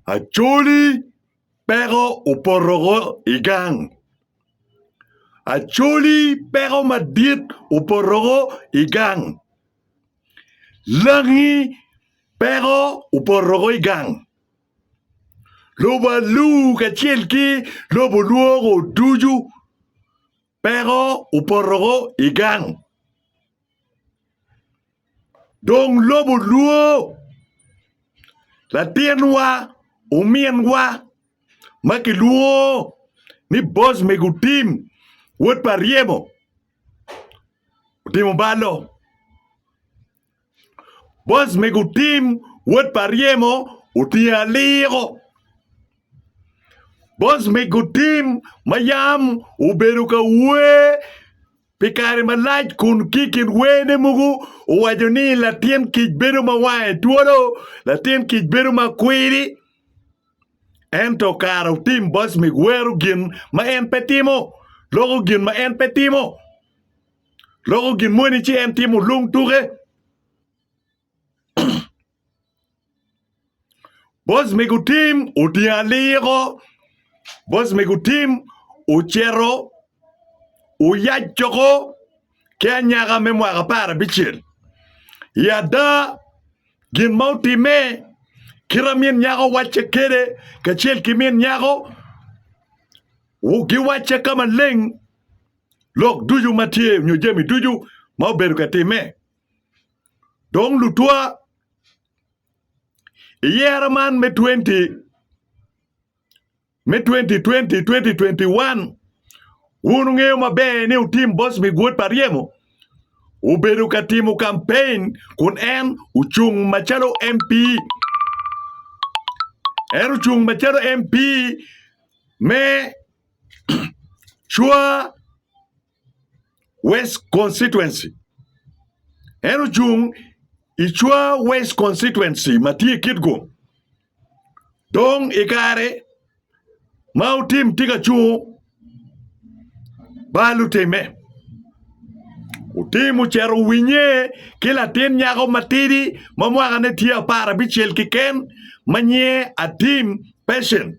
Acholi peko opoto woko i gang. Acholi peko madit opoto woko i gang. Langi peko opoto woko i gang. Lobo alur kacel ki lobo lwoko ducu. Peko opotoko i gang, dong lobo lwo. Latinwa, ominwa ma kilwongo ni Bocmig Otim, wod pa Ryemo, otimo balo. Boss mego Tim wod pa ryemo otye aliko. Boss mego Tim ma yam obedo ka wer pi kare malac kun ki i kin werne mogo owaco ni latin kic bedo ma wange twolo, latin kic bedo ma kwidi ento kara otim boss meg wero gin ma en pe timo, loko gin ma en pe timo. loko gin moni ci en timo lung tuke. Bos me gutim otingo aliko, bos me gutim ocito oyac coko ki anyaka me mwaka apar abicel. I ada, gin ma otimme, kite ma min nyako wacce kwede kacel ki min nyako giwacce ka maleng. lok ducu ma tye nyo jami ducu ma obedo ka timme. Dong lutwa, i yero man me 20 me 2020 2021 wun wungeyo maber ni otim boss mi guot pa ryemo obedo ka timo kampein kun en ocung macalo MP en ocung macalo MP me Cwa West Constituency, En ocung i Cwa West Constituency ma tye i Kitgum. Dong i kare ma Otim tye ka cungo ba lutimme, Otim ocito owinye ki latin nyako matidi ma mwakane tye apar abicel keken ma nyinge Atim Patience.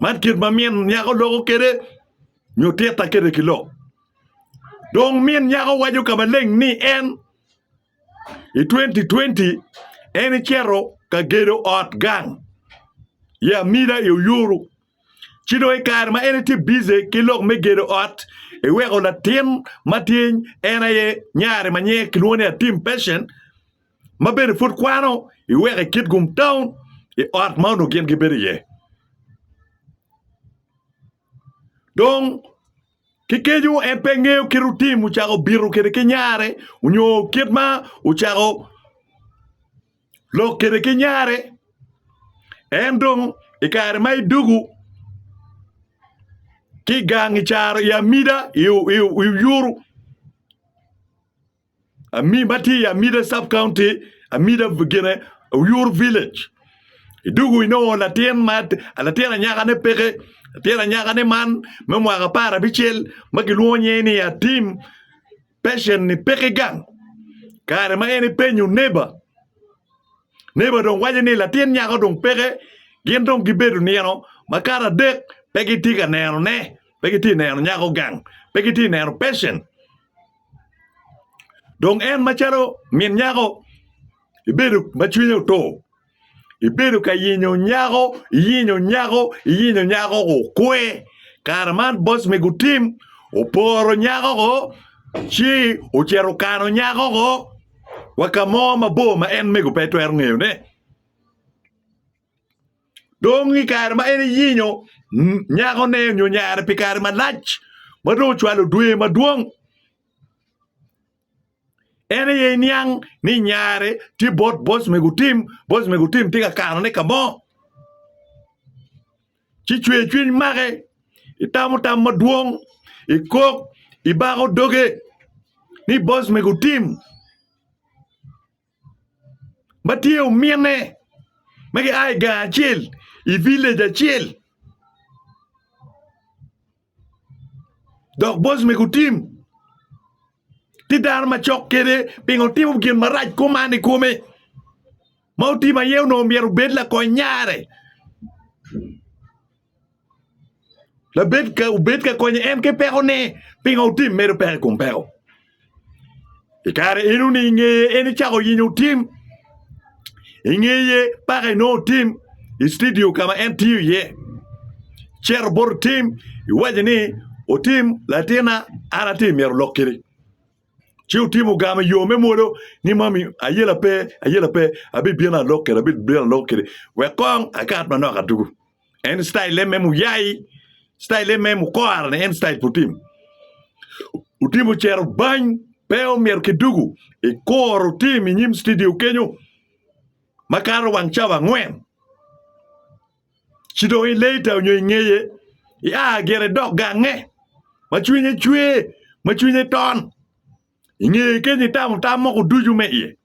Man kit ma min nyako loko kwede nyo titta kwede ki lok. Dong min nyako waco ka maleng ni en i twenti twenti en ecito ka gedo ot gang i Amida i Oyuru ci dong i kare ma en etye bice ki lok me gedo ot eweko latin matye en aye nyare ma nyinge kilwongo ni Atim Pechen ma bene pud kwano iweko i kit gum taun i ot ma onongo gin gibedo iye. Dong ki kenyo en pe ngeyo kit rutim ocako bito kwede ki nyare onyo kit ma ocako lok kwede ki nyare. En dong i kare ma idwogo ki i gang i caro i amida i oyuru. Ami ma tye i Amida Sub County, Amida gine Oyur Village. I dugu inongo latin ma latin anyakane peke. Latin anyakane man me mwaka apar abicel ma gilwongo nyinge ni Atim pecen-ni peke gang. Kare ma en epenyo neba, neba dong waco ni latin nyako dong peke. Gin dong gibedo nino makato adek pe gitye ka nenone, pe gitye ka neno nyako gang, pe gitye ka neno pecen. Dong en macalo min nyako ibedo ma cwinye otur, ibedo ka yenyo nyako, iyenyo nyako, iyenyo nyako okwe. Kare man boss me gutim oporo nyako-o ci ocito okano nyako-o wa ka mo mabor ma en mego pe etwero ngeyone. Dong i kare ma en eyinyo nyakone nyo nyare pi kare malac ma dong ocwalo dwe madwong, en aye iniang ni nyare tye bot boc me gutim, boc me gutim tye ka kanone ka mo, ci cwercwiny make, itamo tam madwong, ikok, ibako doge ni boc me gutim. ma tye omine ma gia i gang acel i villej acel dok boss me gutim tye dano macok kwede pingo wutimo gin marac kuman i kome ma otim aye onongo myero obed lakony nyare. Labed ka obed ka konyo en ki pekone, pingo otim medo peko i kom peko? I kare eno-ni i ngeye en icako yenyo otim, i ngeye paka inongo otim i citidio ka ma en tiyo iye. Icito bot otim iwaco ni, Otim latinna, an atye myero olok kiri. ci otimo ogamo i yo me mwolo ni mami ayela pe ayela pe abibino alok kede abibino alok kede wek kong akat manok adugu en citayille me muyai citayille me mukora-ni en citayil pe otimo otimo ocito bany pe omyero kidugu ikuru tim inyim cidio kenyo makato wang cawa angwen ci dong i later onyo i ngeye ia gire idok gange ma cwinye cwe ma cwinye ton i ngeye kenyo itamo tam moko ducu me iye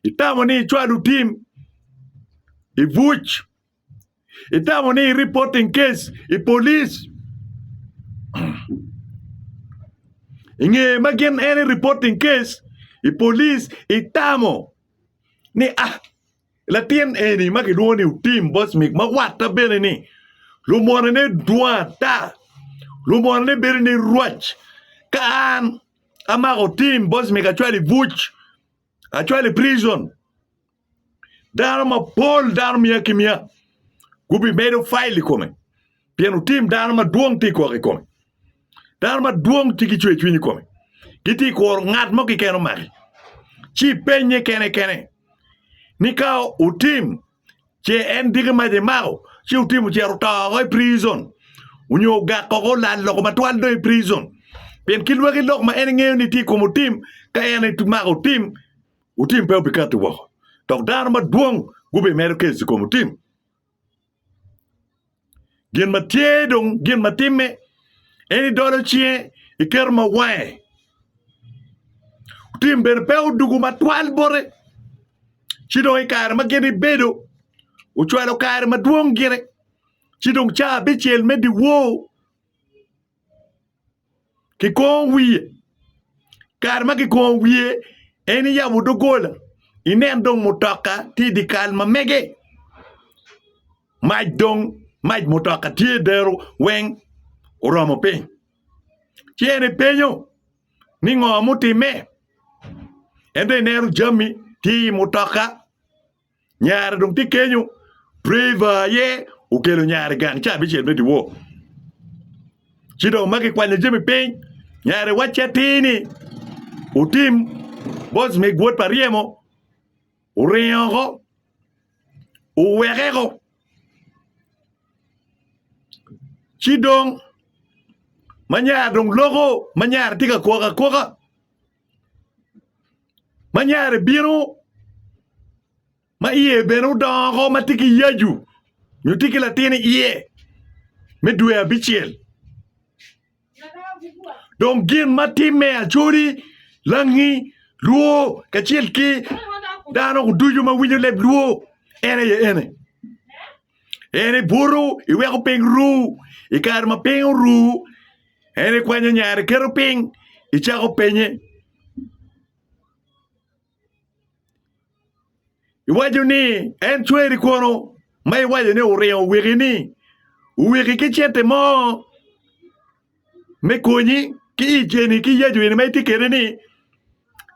itamo ni icwa lutim i buc itamo ni i reporting case i police i ngeye ma gin en i reporting case i police itamo ni a Latin eni ma kilwongo ni Utim Bosmik ma watta bene ni lumwonone dwong ata. Lumwonone bedo ni rwac ka an amako Utim Bosmik acwalo i buc, acwalo i prison, dano mapol dano mia ki mia gubimedo file i kome pien utim dano madwong tye gwok i kome. Dano madwong tye ki cwercwiny i kome, gitye ka kuro ngat mo keken omaki, ci ipenye kene kene ni ka otim ce en diki mac emako ci otim ocito oto woko i prison onyo ogak woko olal loko matwal dong i prison pien ki lwaki lok ma en ngeyo ni tye i kome otim ka en emako otim, otim pe obikati woko dok dano madwong gubimedo kec i kome otim. Gin ma tye dong gin ma timme en idolo cinge iketo ma wange otim bene pe odwogo matwal bote ci dong i kare ma gin ibedo ocwalo kare madwong gire ci dong caa abicel me dyewor. kikongo wiye kare ma kikongo wiye en iyabo dogola inen dong mutoka tye i dyekal ma mege mac dong mac mutoka tye dero weng oromo piny ci en epenyo ni ngo mutimme en dong ineno jami tye i mutoka. Nyare dong tye kenyo. Preva aye okelo nyare gang ca abicel me dyewor. Ci dong ma kikwanyo jami piny, nyare wacce atir ni otim bos me gwot pa ryemo, oringo oko, owekeko. Ci dong ma nyare dong loko ma nyare tye ka kwok akwoka. ma nyare bino ma iye bene odongo ma tye ki yacu nyo tye ki latin iye me dwe abicel dong gin ma timme acoli langi lwo kacel ki dano ducu ma winyo leb lwo en aye ene en ibuto iweko piny ru i kare ma piny oru. En ikwanyo nyare, iketo piny, icako penye. Iwaco ni en cweri kono ma iwaco ni oringo owiki ni owiki ki cente mo me konyi ki i ceni ki yacu eni ma itye kede ni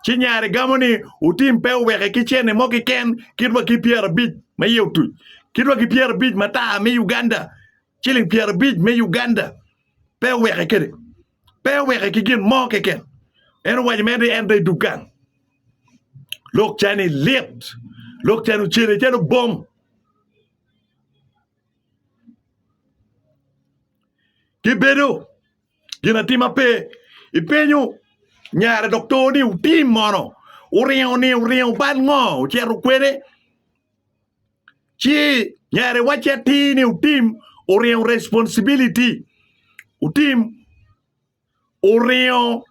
ci nyare gamo ni otim pe oweke ki cene mo kiken kit wa ki pyerabic ma iye otuc kit wa ki pyerabic matar me Uganda. ciling pyerabic me Uganda pe oweke kede pe oweke ki gin mo keken en owaco mere ni en dong idug gang lok cani lit lok cani ocele calo bom gibedo gin atima pe ipenyo nyare doktor ni utim mono uringo ni uringo bal ngo ocito kwene ci nyare wacce atir ni otim oringo responsibility otim oringo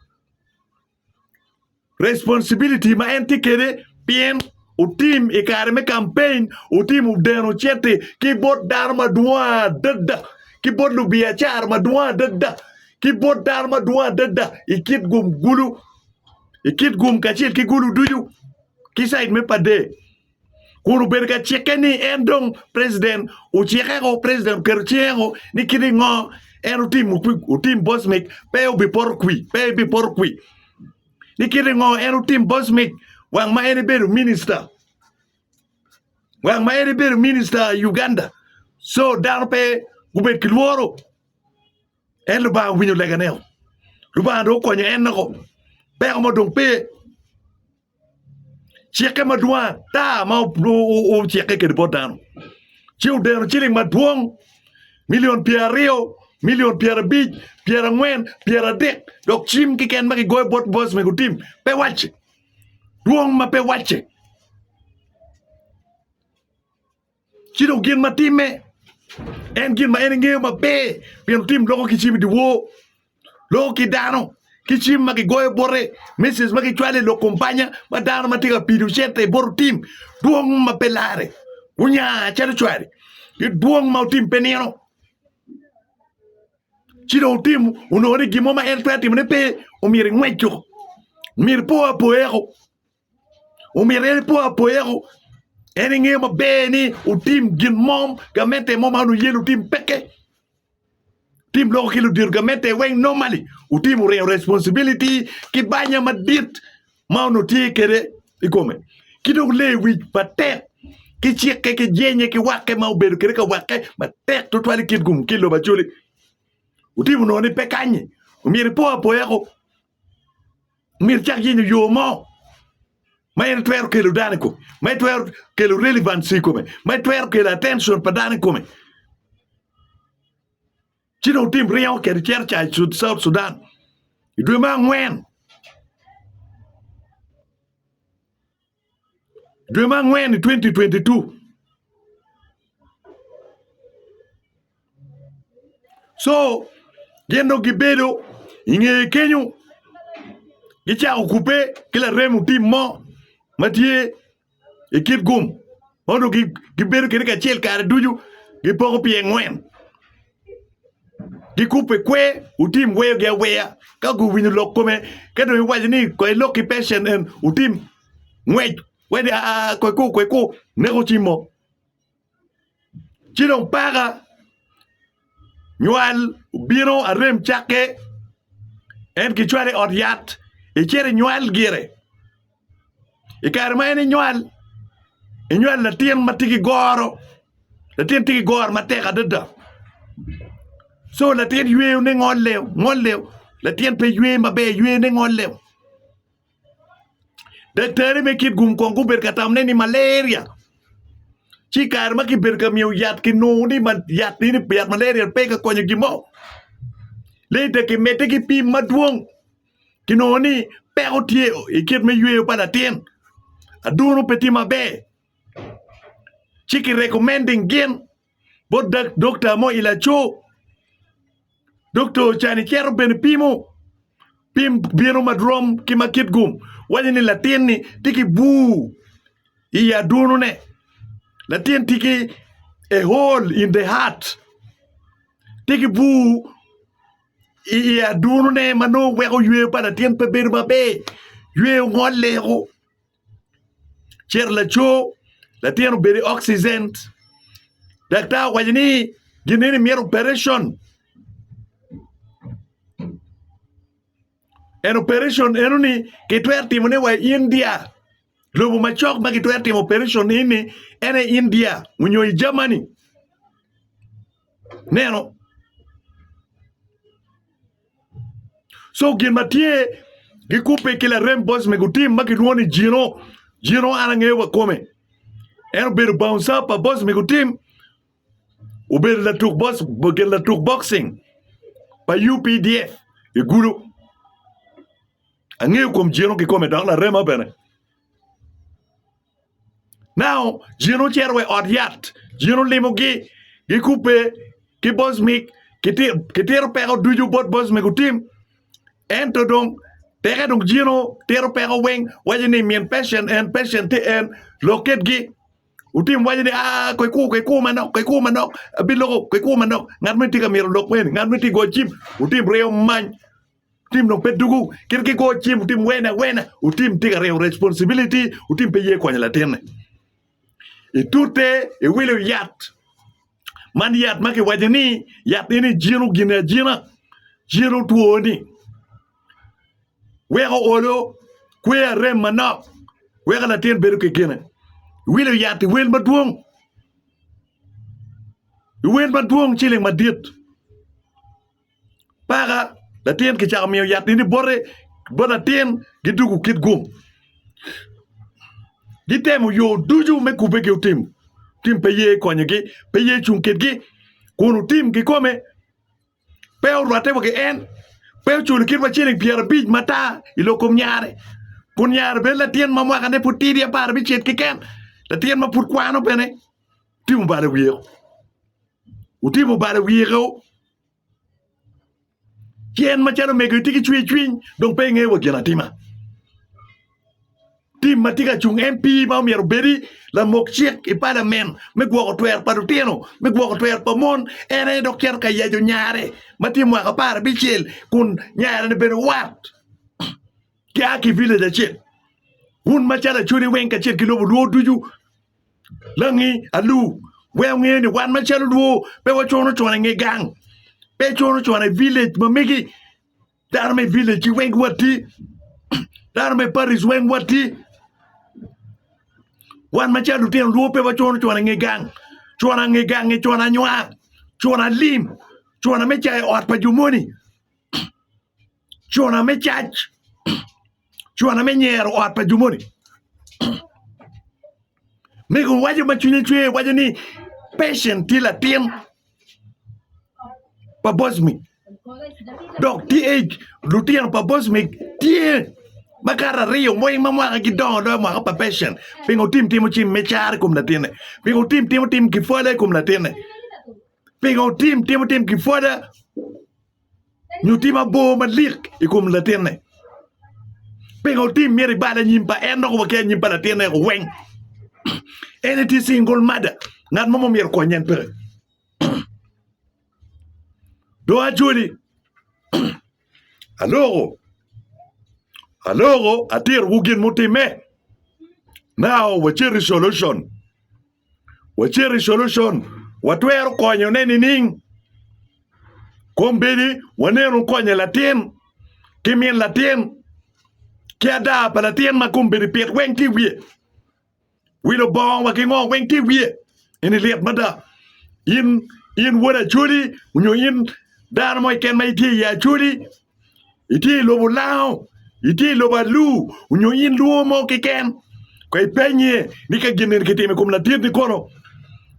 responsibility ma en tye kwede pien otim i kare me kampeny otim odeno cente ki bot dano madwong adada ki bot lubiacara madwong adada ki bot dano madwong adada i kit gum kulu i kit gum kacel ki gulu ducu ki cid me pade. kun obedo ka cikke ni en dong president ocikeko president oketo cikeko ni kit ingo en otimo kwi otim bosmic pe obipoto kwi pe ebipoto kwi ni kit ingo en otim bosmic wang ma en ibedo minista wang ma en ibedo minista i Uganda so dano pe gubed ki lworo en Lubanga owinyo leganeo Lubanga dong okonyo en noko peko mo dong pe cikke madwong ata ma ocikke kwede bot dano ci odeno ciling madwong milion pyeraryo, milion pyerabic, pyerangwen, pyeradek dok cim keken ma kigoyo bot boys me gutim pe wacce dwong ma pe wacce. Ci dong gin ma timme en gin ma en engeyo maber pien otim loko ki cim i dyewor, loko ki dano ki cim ma kigoyo bote, message ma kicwalo i lok kumpanya ma dano ma tye ka pido cente bot otim, dwong ma pe larre, onya calo cware ki dwong ma otim pe nino. Ci dong otim onongo ni gin mo ma en twero timone pe omyero ingwec woko, omyero ipo apoya woko. omyero en epo apoyako en engeyo maber ni otim gin mo gamente mo ma onongo ye ni otim peke tim loko ki ludito gamente weng normally otim oringo responsibility ki banya madit ma onongo tye kede i kome ki dong leyo wic matek ki cikke ki jenye ki wakke ma obedo kede ka wakke matek twatwal i kin kome ki lobo Acholi otimo onongo ni pe kanyi omyero ipo apoyako Omyero icak yenyo yo mo ma en twero kelo dano i kome, ma itwero kelo relevancy i kome, ma itwero kelo attention pa dano i kome. Ci dong wutim ringo kede icito ca i South Sudan i dwe me angwen. dwe ma angwen 2022 so gin dong gibedo ingeye kenyo gicako kube ki laremo tim mo ma tye i kit gum ma onongo gibedo kede kacel kare ducu gipoko pyengwen gikubbe kwer otim weyogi aweya ka guwinyo lok kome ka dong iwaco ni kong ilok ki pecen en otim ngwec wedi aa kweku kweku neko ci mo ci dong paka nywal obino arem cakke en kicwalo i ot yat icito inywal gire. i kare ma en enywal enywal latin ma tye ki goro latin tye ki goro matek adada co latin yweyone ngolle ngolle latin pe ywe maber yweyone ngolle daktarri me kit gum kong gubedo ka tamone ni malaria ci i kare ma kibedo ka miyo yat kinongo ni yat malaria pe ka konyo gin mo leta kimedde ki pim madwong. kinongo ni peko tye i kit me yweyo pa latin, adunu pe tye maber ci ki recommending gin bot dokta mo i laco, dokta ocito icito bene ipimo pim bino ma rom ki ma kit gum waco ni latin-ni tye ki bur i adunune latin tye ki a hole in the heart tye ki bur. i adunone ma nongo weko yweyo pa latin pe bedo maber, yweyo ngolleo, cito laco latin obedo i oxygen daktar owaco ni gineni myero operation and operation enoni kitwero timone wa i India lobo macok ma kitwero timo operation eni en aye India nyo i Germany. Neno? So gin ma tye gikubbe ki larem boys me gutim ma kilwongo ni Jino. Jino an angeyo wa kome. En obedo bouncer pa boys me gutim. Obedo latuk boys, obedo latuk boxing pa UPDF i Gulu. Angeyo kom Jino kikome dok larema bene. Now, jin ocito wa i ot yat, jin olimogi, gikubbe ki Bosmik, kiti- kitito peko ducu bot Bosmik otim. Ento dong, teke dong jin otito peko weng, waco ni min Persian en, Persian tye en, lok kitgi. Otim waco ni, aa, koikur, koikur manok, koikur manok, abiloko, koikur manok, ngat moni tye ka myero olok meni, ngat moni tye ka goyo cim, otim ryeyo many. Tim dong pe dugu kit ki go cim otim wene awena otim tika reo responsibility otim pe ye konyo latinne itute iwilo yat man yat ma kiwaco ni yat eni jino gine ajina jino twoni weko olo kwe arem manok weko latin bedo ki gine iwilo yat iwel madwong iwel madwong ciling madit paka latin kicako miyo yatni ni bote bot latin gidwogo kit gum gitemo yo ducu me kubbe ki otim tim pe ye konyogi pe ye cung kitgi kun otim kikome pe orwatte wa ki en pe oculo kit wa ciling pyerabic mata i lok kom nyare kun nyare bed latin ma mwakane pud tidi apar abicel keken latin ma pud kwano bene otim obalo wiye-o otim obalo wiye-o ci en macalo omego itye ki cwer cwiny dong pe ingeyo wa ginatima tim ma tye ka cung MP ma omyero obedi lamok cik i palamen me gwoko twer pa lutino me gwoko twer pa mon en aye dok cito ka yaco nyare ma tye mwaka apar abicel kun nyare ni bene wat gia ki village acel un macalo acholi weng kacel ki lobo lwor ducu Langi alu wek wunge ni wan macalo lwo pe wacono cona inge gang, pe cono cona i villej ma megi, dano me villej gi weng wati, dano me paris weng wati, wan macalo lutino lwo pe wacono cona inge gang, cona nge gangi cona nywar, cona lim, cona me cayo ot pa jo moni. cwona me cac, cwona me nyero ot pa jo moni. Mego waco ma cwinye cwer waco ni Patient tye latin pa Bosmic dok tye age lutino pa Bosmic tye makato aryo ma ma mwaka gidongo doyo mwaka pa Patient pingo otim timo cim me caro i kom latinne pingo otim timo tim kipwada i kom latinne pingo otim timo tim kipwada nyo tim abor malik i kom latinne. Pingo otim myero ibal anyim pa en dok waki anyim pa latinne weng. En etye single mother, ngat mo myero konye en peke. Do acoli aloko aloko atiro gin mutimme now wacit i solution. wacit i solution watwero konyo ne nining? Kombedi wanenu konyo latin ki min latin ki ada pa latin ma kombedi pit weng tye wiye, wilo bongo wa ki ngo weng tye wiye eni lit mada. In in wod acholi onyo in dano mo keken ma itye i acholi Itye i lobo Lao, itye i lobo Alu onyo in luo mo keken ko ipenye ni ka gin eni kitimo i kom latit ni kono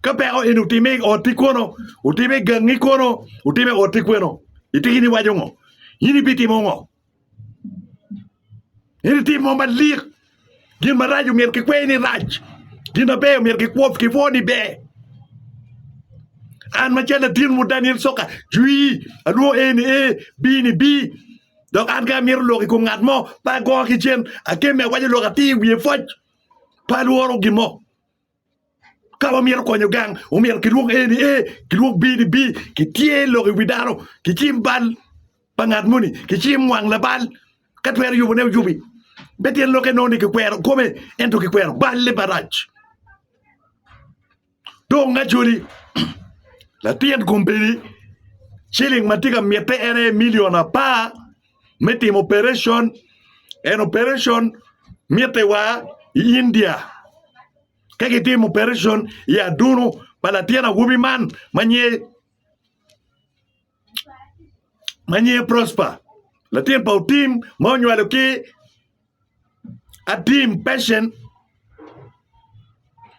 ka peko eni otime i ot ni kono otime i gangi kono otime i ot ni kweno itiki ni waco ngo in ibitimo ngo. In itimo malik. Gin marac omyero kikwer ni rac, gin maber omyero kikwob kipwo ni ber. An macalo latinwu Daniel Soka, cwi, alwongo A ni A, B ni B. Dok an ka amito lok i kom ngat mo, pe agongo ki cen, akemme awaco lok atir i wiye pwoc, pe alworo gin mo. Ka wamito konyo gang, omyero kilwok A ni A, kilwok B ni B, kityer lok i wi dano, kicim bal pa ngat moni, kicim wang labal, ka twero yubone oyubi. Me tyen lokke nongo ni kikwero kome, ento kikwero balle marac. Dong Acholi, latin kombeddi, ciling ma tye ka mitte en aye milion apar. me timo operetion en operetion mitte wa i India ka gitimo operetion i adunu pa latin awobi man ma nyinge Prosper latin pa Otim ma onywalo ki Atim Patient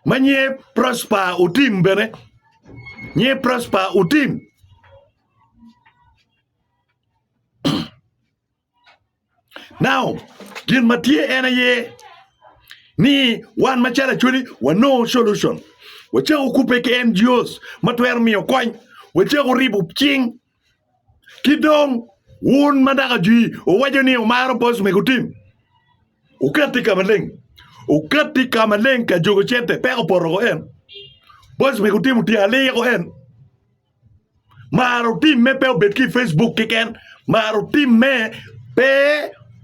ma nyinge Prosper Otim bene nyinge Prosper Otim. Now, gin ma tye en aye ni wan macalo Acholi wanongo solution. Wacako kubbe ki NGOs ma twero miyo kony, wacako ribo cing. Ki dong wun ma daka jwi wuwaco ni wumaro boss mego tim, wukatti ka maleng, wukatti ka maleng ka jogo cente peko poto ko en. Boss mego tim otyeko aliko en. Mar otimme pe obed ki i Facebook keken, mar otimme pe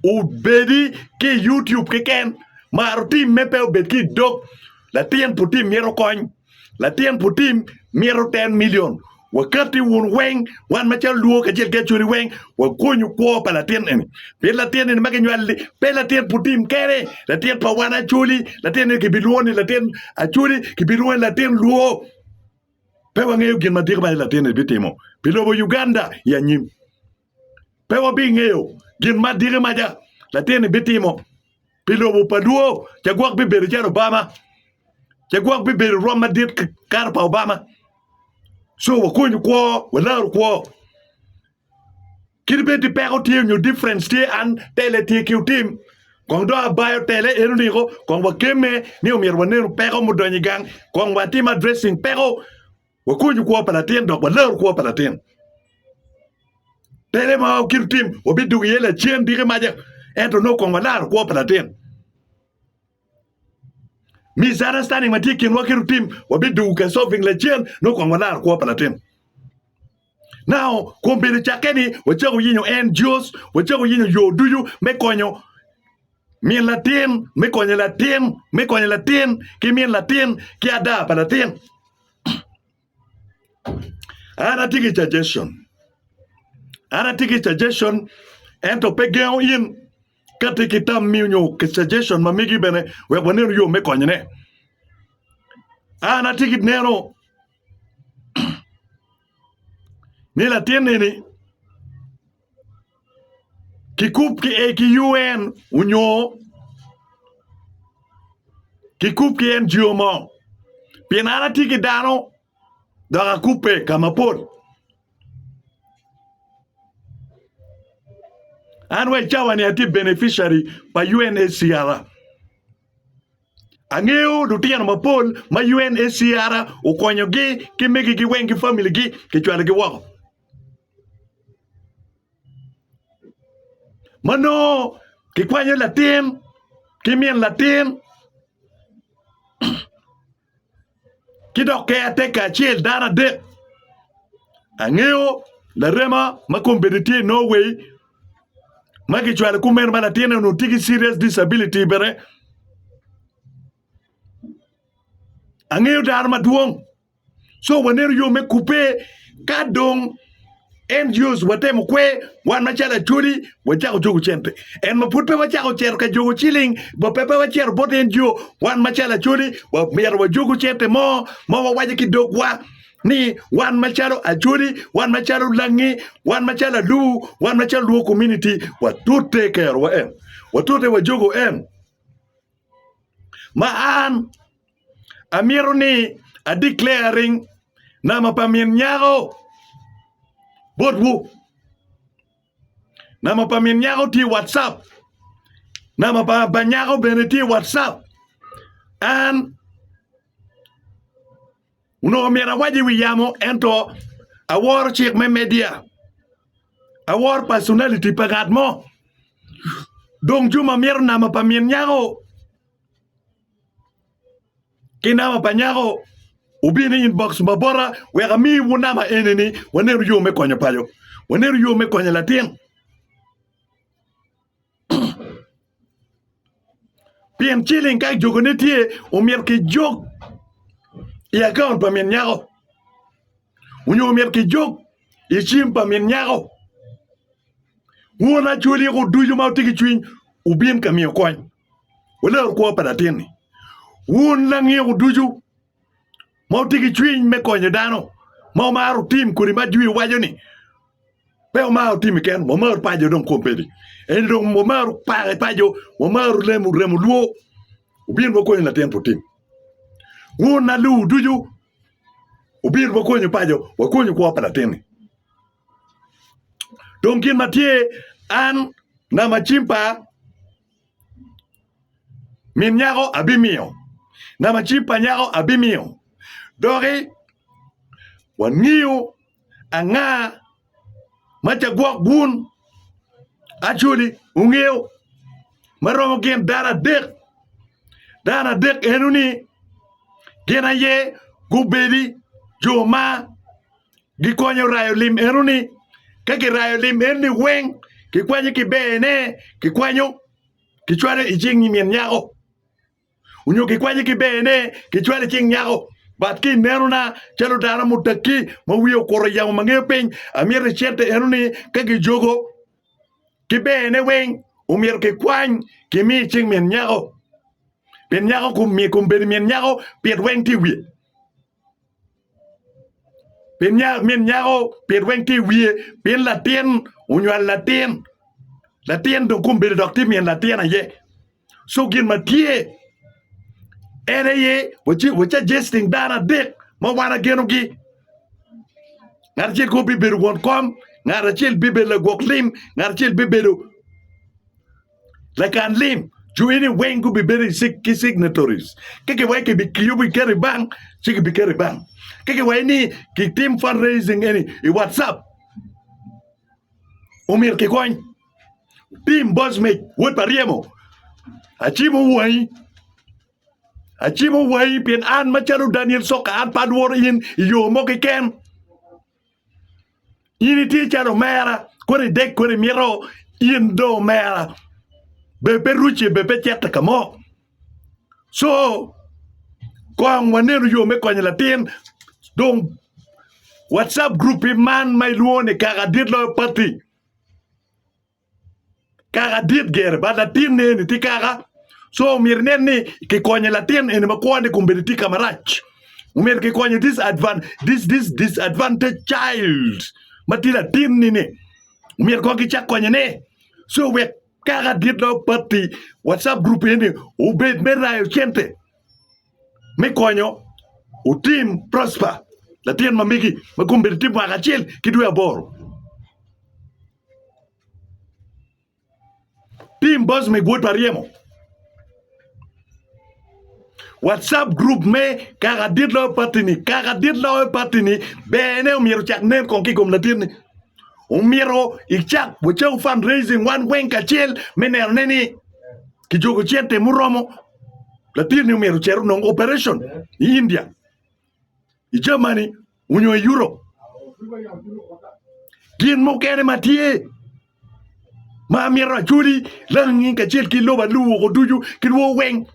obedi ki i YouTube keken, mar otimme pe obed ki i dog. Latin putim myero okony, latin putim myero ten milion. Wakatti wun weng, wan macalo Luo kacel ki Acholi weng, wagonyu kwo pa latin eni. Pien latin eni ma kinywali-ni pe latin putim kene, latin pa wan Acholi, latin eni kibilwongo ni latin Acholi, kibilwongo ni latin Luo. Pe wangeyo gin madit ma i latin-ni bitimo pi lobo Uganda i anyim. Pe wabingeyo gin madit ma ja latin-ni bitimo pi lobo pa Luo. Ca gwok bibedo calo Obama. Ca gwok bibedo rwom madit kato pa Obama. So wakonyu kwo, walaru kwo. Kit bed ni peko tye nyo difference tye an tele tye ki otim kong do abayo tele en oniko kong wakemme ni omyero wanenu peko mudonyo i gang kong watim addressing peko wakonyu kwo pa latin dok walaru kwo pa latin tele ma kit otim wabidugo iye lacen diki maja ento no kong walaro kwo pa latin misunderstanding ma tye kinwa kit otim wabidugo ka solving lacen no kong walaro kwo pa latin Nao kwon bedo cakke ni wacako yenyo en, George, wacako yenyo yo ducu me konyo min latin, me konyo latin, me konyo latin ki min latin ki ada pa latin. An atye ki suggestion, an atye ki suggestion, ento pe gengo in ka tye ki tammi nyo ki suggestion ma migi bene wek wanenu yo me konyone. An atye ki neno ni latin eni kikub ki e ki UN onyo kikub ki NGO mo pien an atye ki dano dok akubbe ka mapol an wa i cawa ni atye beneficiary pa UNHCR. Angeyo lutino mapol ma UNHCR okonyogi ki megi-gi weng ki familigi kicwalogi woko ma nongo kikwanyo latin ki min latin. ki dok keateka acel dano adek. Angeyo larema ma kombeddi tye i Norway ma kicwalo ki omeno ma latinne onongo tye ki serious disability bene angeyo dano madwong so waneno yo me kubbe ka dong NGOs watemo kwer, wan macalo Acholi wacako jogo cente. En ma pud pe wacako cito ka jogo ciling, bo pe pe wacito bot NGO, wan macalo Acholi wamito wajogo cente mo ma wawaco ki dogwa ni wan macalo Acholi, wan macalo Langi, wan macalo Alubu, wan macalo Luo community watute kerowa eno, watute wajogo eno. ma an amito ni a declaring nama pa min nyako botwu. Nama pa min nyako tye i WhatsApp. Nama pa banyako bene tye i WhatsApp. An Onongo myero awac i wi yamo ento aworo cik me media. Aworo personality pa ngat mo. Dong Juma mito nama pa min nyako ki nama pa nyako wubin i inbox ma bota wek amiwu nama eni ni wanenu yo me konyo paco. Wanenu yo me konyo latin. pien ciling ka jokone tye omyero kijok i akaunt pa min nyako onyo omyero kijok i cim pa min nyako won acholi eko ducu ma wutye ki cwiny wubin ka miyo kony wulor kwo pa latin-ni wun langiku ducu ma otye ki cwiny me konyo dano ma omaro otim kodi ma jwi owaco ni pe omaro timi kene wa maro paco dong kom peni eni dong wa maro pake paco wa maro lemo remo lwo obino wa konyo latin pi otim wun ma luwu ducu obino wa konyo paco wa konyo kwo pa latin-ni dong gin ma tye an namacinpa min nyako abimiyo, namacim pa nyako abimiyo, doki wangiyo anga ma ca gwok bun. Actually, wungiyo ma romo gin dano adek, dano adek eno-ni gin aye gubedi jo ma. Gikonyo rayo lim enoni. Ka kirayo lim enoni weng, kikwanyo ki bene, kikwanyo kicwalo i cing min nyako onyo kikwanyo ki bene kicwalo i cing nyako. But ki inenona calo dano mutaki ma wiye okuto yamo ma ngeyo piny, amyero i cente enoni ka kijogo ki bene weng omyero kikwany kimi i cing min nyako. Min nyako kom, kom bedo min nyako pit weng tye i wiye. Pien nyako min nyako pit weng tye i wiye pien latin onywalo latin latin dong kong obedo dok tye min latin aye co gin ma tye en aye wacajesting dano adek ma wan agenogi ngat acel kong bibedo won kom ngat acel bibedo lagwok lim ngat acel bibedo Lakan lim jwiyo ni weng gubibedo ki signatories. Ka kiwaco kibi yubo kiketo i bank, ci kibiketo i bank. Ka kiwaco ni kitim fundraising eni i WhatsApp, omyero kikony. Tim Bosmej, wod pa ryemo, acimo wangi. Acimo wangi pien an macalo Daniel Soka an pe alworo in i yo mo keken. In itye calo omera kono idek kono imito in dong omera bene pe rucce bene pe cito ka mo co kong wanenu yo me konyo latin dong wacap gurup man ma ilwongo ni kaka dit loyo patti. kaka dit gire bad latinne eni tye kaka co myero inen ni kikonyo latin eni ma kwone kong bene tye ka marac myero kikonye this advan this this disadvantaged child ma tye latinni-ni myero kong kicak konyone co wek kaka dit dong patti wacap gurup eni obed me rayo cente me konyo otim Prosper latin ma megi ma kome bedo tye mwaka acel ki dwe aboro. Tim Boss me Gwod pa Ryemo WhatsApp group me Kaka dit loyo patini Kaka dit loyo patini bene omyero ocak nen kong ki i kom latinni. Omyero icak wacawu fund raising wan weng kacel me nenone ni Kijuko cente muromo latinni omyero ocer onong operation i India, i Germany onyo i Europe. Gin mukene ma tye ma amyero acwodi langi kacel ki lobo alu woko ducu ki lwo weng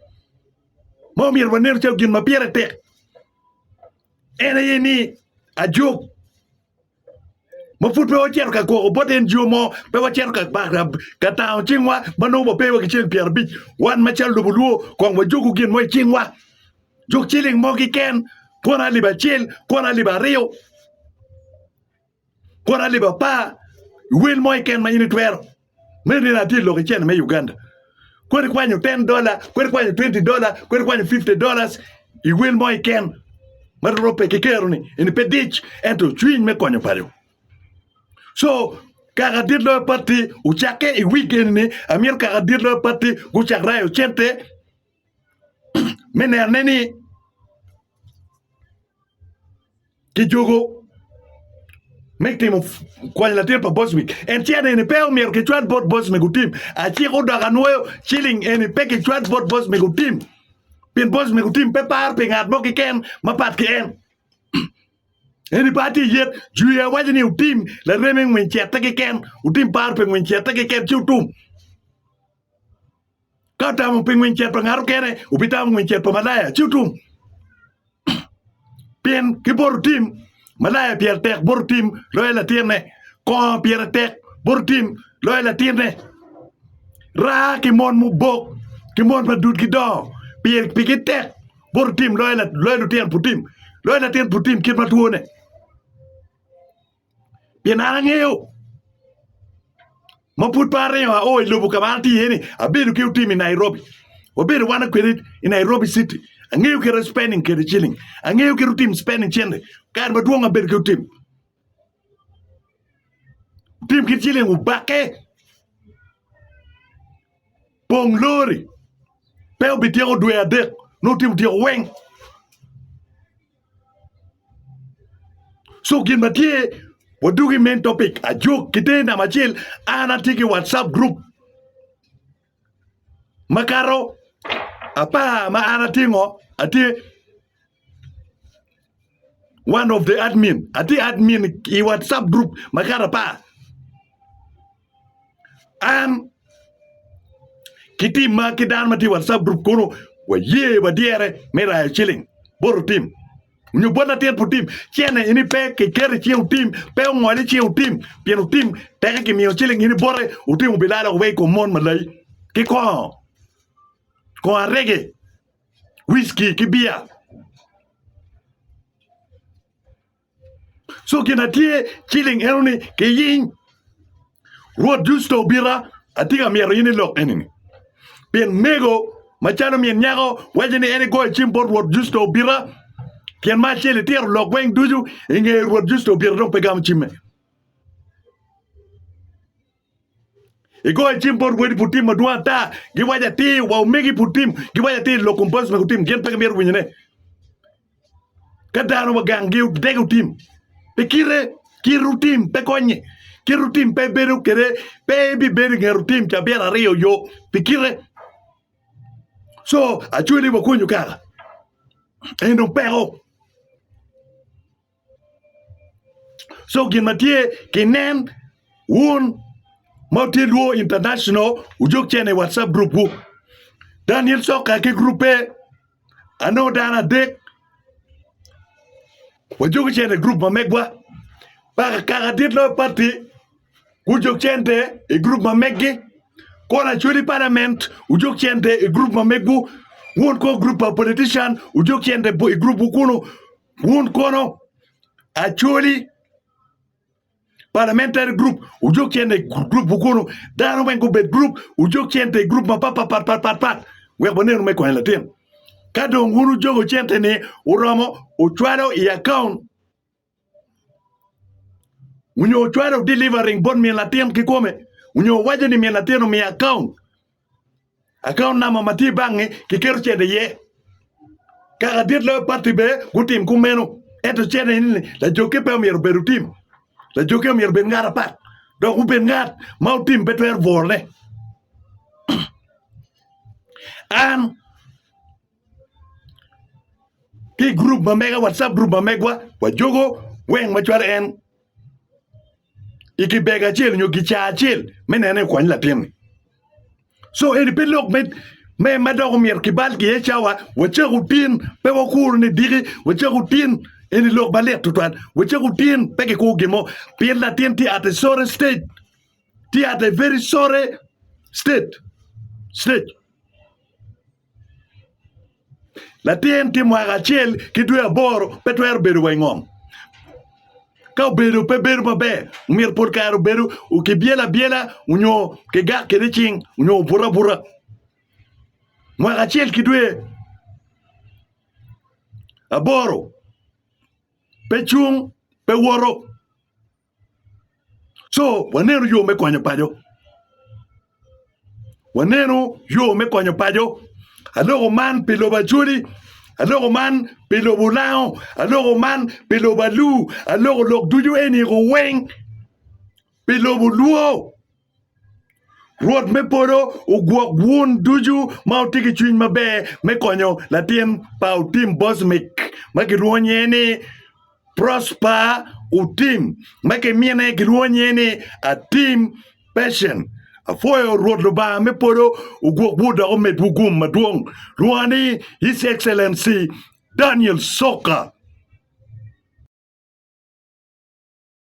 ma omyero wanenu calo gin ma pire tek en aye ni ajok ma pud pe wacito ka gwoko bot en jo mo pe wacito ka ka tango cingwa ma nongo wape wa ki cen pyera abic wan macalo lobo lwo kong wajuku gin mo i cingwa juk ciling mo kiken kwota alip acel kwota alip aryo kwota alip apar i wel mo kiken ma in itwero Me nino atye i lok icene me Uganda. Kodi ikwanyo ten dola, kodi ikwanyo twenty dola, kodi ikwanyo fifty dollars i wel mo iken ma rwot ope ki keroni, eni pe dic ento cwiny me konyo paco. So kaka dit loyo patti ocakke i wik eni-ni, amyero kaka dit loyo patti gucak rayo cente me nene ni kijuko me timo kwony latin pa Boswick. En ce nene pe omyero kicwal bot Boswick otim. Aciko dok anwoyo ciling eni pe kicwal bot Boswick otim. Pien Boswick otim pe par pi ngat mo kiken mapat ki en. Eni par ti yet juya waco ni otim lareme ngwiny cete kiken, otim par pe ngwiny cete kiken ci otum. Ka tamo pi ngweny cet pa ngato kene, wubitamo ngweny cet pa malaya ci wutum. Pien ki boro tim, malaya pire tek boro tim loyo latinne, kongo pire tek boro tim loyo latinne. Raa ki mon mubok ki mon ma dudgi dongo, pire pigi tek boro tim loyo lutino putim, loyo latin putim kit ma twone. pien an angeyo ma pud pe aringo ao i lobo ka ma an atye iye ni abedo ki otim i Nairobi wabedo wan kwede i Nairobi citi angeyo kit spending kwede ciling angeyo kit otim spending cente kare madwong abedo ki otim otim kit ciling obake pong lori pe obi tyeko dwe adek nongo otim otyeko weng. So gin ma tye wadwogo i main topic ajok ki te namba acel an atye ki whatsapp group makato apar ma an atye ngo atye one of the admin atye admin i whatsapp group makato apar An ki tim ma ki dano ma tye i WhatsApp group kunu waye wadyere me rayo ciling bot otim nyo bot latin pa otim ci en aye ni pe kiketo i cinge otim pe ongol i cinge otim pien otim teke kimiyo ciling in ibote otim obilalo woko i kom mon malai ki kongo kongo arege wiski ki biya Cogin na tye ciling enoni kiyiny. Rwot Jucito obita, atye ka myero in ilok enini. Pien mego macalo min nyako waco ni en igoyo cim bot Rwot Jucito obita, tyen ma acel itito lok weng ducu inge Rwot Jucito obita dong pe gamo cimme. I goyo cim bot wadi pud tim madwong ata, giwaco atir wa omegi pud tim, giwaco atir lok kom pastor pud tim, gin pe gimito winyone. Ka dano ma ganggi odege otim, pe kite, kite otim pe konye, kite otim pe bedo kede, pe ebibedo i nget otim ca byero aryo yo pi kite. So acweli wakonyo kaka? Eno peko. Co gin ma tye ki nen wun ma wutye lwor international wujog cene i watcap group gu Daniel coka ki groupe anongo dano adek wajogi cene i group ma megwa paka kaka dit loyo party gujog cente i group ma megi Kona Chwedi parliament wujog cente i group ma megu wun ko group pa politician wujog cente i group wu kunu Wun kono Acholi parliamentary group wujog cente i group kono dano weng gubed group wujog cente i group mapatpatpatpat wek wanenu me konyo latin ka dong wun wujogo cente ni uromo ucwalo i account onyo ucwalo delivering bot min latin kikome onyo uwaco ni min latin omiyo account Akaunt number ma tye bangi kiketo cente iye. Kaka dit loyo pati bene gutim kumeno. Ento cente ni lajokke pe omyero obed otim. Lajokke omyero obed ngat apat dok obed ngat ma otim pe twero bwolone. An ki i gurup ma mega watcap gurup ma megwa wajogo weng macwalo en. i kibega acel nyo gicaa acel me nene ni okwany latinni so eni pe lok me me ma dok omyero kibal ki iye cawa wacak otin pe wakuru ni diki wacak otin eni lok malit tutwal wacak otin pe kikuru gin mo pien latin tye at a sorry stage tye at a very sorry state stage Latin tye mwaka acel ki dwe aboro pe twero bedo wa i ngom. Ka obedo pe bedo maber myero pol kare obedo kibyelo abyela onyo kigak kwede cing onyo obuto abuta mwaka acel ki dwe aboro pe cung pe woto. co waneno yo me konyo paco waneno yo me konyo paco aloko man pi lobo acholi aloko man pi lobo olango aloko man pi lobo alur aloko lok ducu eni weng pi lobo lwor. Rwot me polo ogwok wun ducu ma wutye ki cwiny maber me konyo latin pa Otim Bosmic ma kilwongo nyinge ni Prosper Otim ma ki mine kilwongo nyinge ni Atim Patient. Apwoyo Rwot Lubanga me polo ogwokwu dok omedwu gum madwong. Lwonga ni His Excellency Daniel Soka.